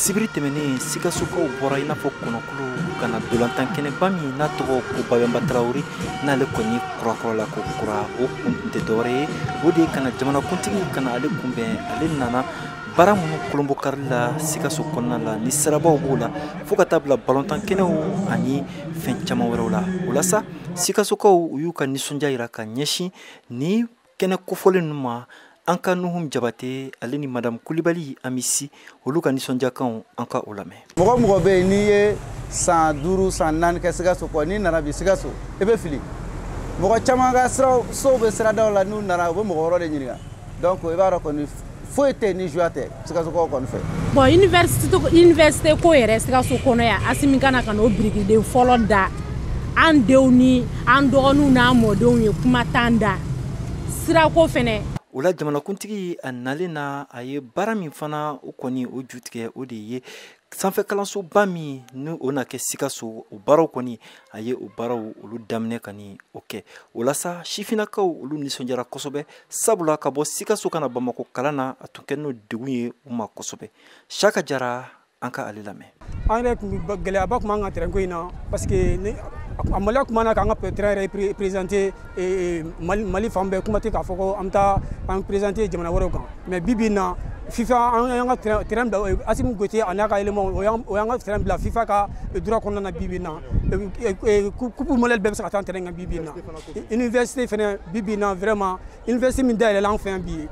sibiri tɛmɛnen sikasokaw bɔra i n'a fɔ kɔnɔkulu ka na ntolatan kɛnɛba min n'a tɔgɔ ko babɛnba tarawele n'ale kɔni kurakurala ko kura o kun tɛ dɔwɛrɛ ye o de ye ka na jamanakuntigi ka na ale kunbɛn ale nana baara minnu kurunbonkarili la sikaso kɔnɔna la ni sirabaw b'o la fo ka taa bila balontan kɛnɛw ani fɛn caman wɛrɛw la o la sa sikasokaw u y'u ka nisɔndiya yira ka ɲɛsin ni kɛnɛ kofɔlen ninnu ma an ka nuhum jabate ale ni madamu kulibali ami si olu ka nisɔndiyakanw an ka o lamɛn mɔgɔ mɔgɔ bɛ yen n'i ye san duuru san naani kɛ sikaso kɔ n'i nana bi sikaso i bɛ fili mɔgɔ caman ka sow bɛ siradaw la n'u nana u bɛ mɔgɔ wɛrɛ de ɲininka donc i b'a dɔn kɔni foyi tɛ ni joie tɛ sikasokaw kɔni fɛ bon université ko yɛrɛ sikaso kɔnɔ yan asimi ka na ka n'o birikiden fɔlɔ da an denw ni an dɔgɔninw n'an mɔdenw ye kuma t'an da sirako fɛnɛ o la jamanakuntigi a nalen na a ye baara min fana o kɔni o ju tigɛ o de ye sanfɛ kalansoba min ni o na kɛ sikaso o baaraw kɔni a ye o baaraw olu daminɛ ka ni o kɛ o la sa sifinnakaw olu nisɔndiyara kosɛbɛ sabula ka bɔ sikaso ka na bamakɔ kalan na a tun kɛlen degun ye u ma kosɛbɛ saka jara an ka ale lamɛn an yɛrɛ tun gɛlɛyaba tun b'an ka terrain ko in na parce que a maloya tun b'an na k'an ka terrain yɛrɛ présenter Eh, mali fan bɛɛ kuma tɛ k'a fɔ ko an bɛ taa an présenter jamana wɛrɛw kan mais bi bi in na fifa an y'an ka terrain bila asimi goyita a n'a ka élémentw y'an ka terrain bila fifa ka droit kɔnɔna na bi bi in na coupe mondiale bɛɛ bɛ se ka tan terrain kan bi bi in na université fɛnɛ bi bi in na vraiment université min dayɛlɛla an fɛ yan bi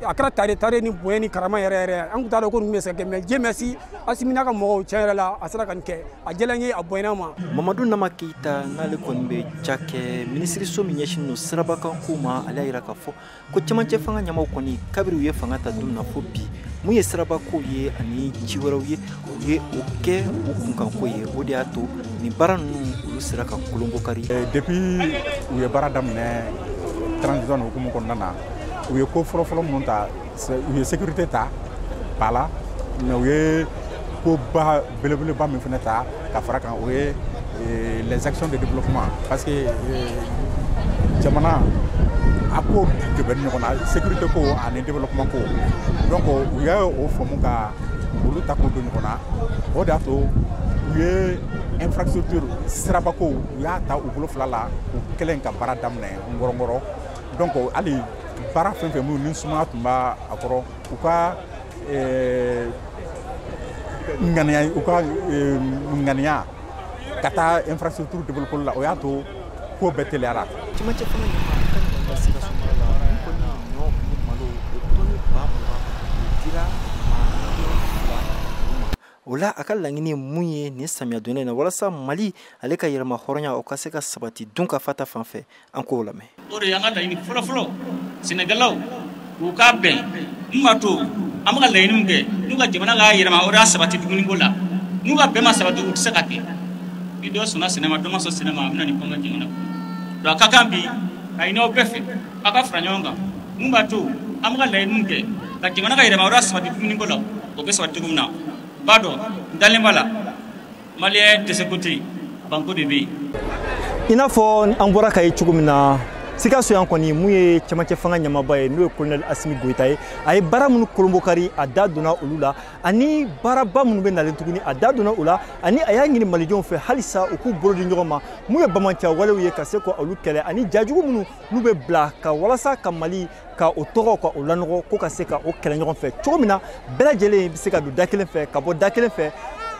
a kɛra tare tare ni bonya ni karama yɛrɛ yɛrɛ an tun t'a dɔn ko ninnu bɛ se ka kɛ mais dieu merci asimi n'a ka mɔgɔw tiɲɛ yɛrɛ la a sera ka nin kɛ a diyala an ye a bonyana an ma mamadu nama keyita n'ale kɔni bɛ cakɛ minisiriso min ɲɛsin don sirabakankow ma ale y'a yira k'a fɔ ko cɛmancɛ fanga ɲɛmaw kɔni kabiri u ye fanga ta don na fo bi min ye sirabakow ye ani ci wɛrɛw ye u ye o kɛ u kunkanko ye o de y'a to nin baara ninnu olu sera ka kurunbonkari eh, depuis u ye baara daminɛ transition hukumu kɔnɔna na u ye ko fɔlɔfɔlɔ minnu ta u ye sécurité ta ba la mais u ye koba belebeleba min fana ta ka fara kan o ye eh, les actions de développement parce que eh, jamana a ko de bɛ ɲɔgɔn na sécurité ko ani développement ko donc u ye o faamu ka olu ta k'o don ɲɔgɔn na o de y'a to u ye infrastructure sirabakow u y'a ta u bolo fila la u kɛlen ka baara daminɛ ngɔrɔngɔrɔ donc hali baara fɛn fɛn minnu ni sumaya tun b'a a kɔrɔ u ka eh, ŋaniya ka taa infrastructure développement la o y'a to ko bɛɛ teliyara cɛmancɛ fanga ɲɛmaa ka ɲɔgɔn ka sikaso mara la olu kɔni ye ɲɔ ni malo o tɔni ba mugan o dira maa miliyɔn fila olu ma o la a ka laɲini ye mun ye nin samiya donnen na walasa mali ale ka yɛrɛmahɔrɔnya o ka se ka sabati dunkafa ta fan fɛ an k'o lamɛn o de y'an ka laɲini fɔlɔfɔlɔ sɛnɛkɛlaw u ka bɛn mun b'a to an bɛ ka laɲiniw kɛ n'u ka jamana ka yɛrɛmahɔrɔnya sabati dumuniko la n'u ka bɛn ma sabati o tɛ se ka kɛ ni dɔ sɔnna sɛnɛ ma dɔ ma sɔn sɛnɛ ma a bɛ na ni kɔngɔ jamana kɔnɔ donc a ka kan bi a ɲini aw bɛɛ fɛ aw ka fara ɲɔgɔn kan mun b'a to an bɛ ka laɲiniw kɛ ka jamana ka yɛrɛmahɔrɔnya sabati dumuniko la o bɛ sabati cogo min na b'a dɔn n dalen b'a la maliyɛn dɛsɛko tɛ yen banko de bɛ yen i n'a fɔ an bɔra k'a ye cogo min na sikaso yan kɔni mun ye cɛmancɛ fanga ɲɛmaaba ye n'o ye kolonɛli asimi goyita ye a ye baara minnu kurunbonkari a da donna olu la ani baaraba minnu bɛ nalen tuguni a da donna o la ani a y'a ɲini malidenw fɛ halisa u k'u bolo di ɲɔgɔn ma mun ye banbaanci walew ye ka se ka olu kɛlɛ ani ja jugu minnu n'u bɛ bila ka walasa ka mali ka o tɔgɔ ka o lanɔgɔ ko ka se ka o kɛlɛ ɲɔgɔn fɛ cogo min na bɛɛ lajɛlen bɛ se ka don da kelen fɛ ka bɔ da kelen fɛ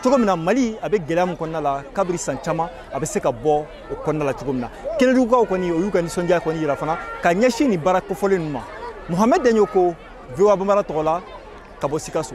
cogo min na mali a bɛ gɛlɛya min kɔnɔna la kabiri san caman a bɛ se ka bɔ o kɔnɔna la cogo min na kɛnɛdugukaw kɔni o y'u ka nisɔndiya kɔni yira fana ka ɲɛsin nin baara kofɔlen ninnu ma mohamɛd daɲɔkɔ voa bambara tɔgɔ la ka bɔ sikaso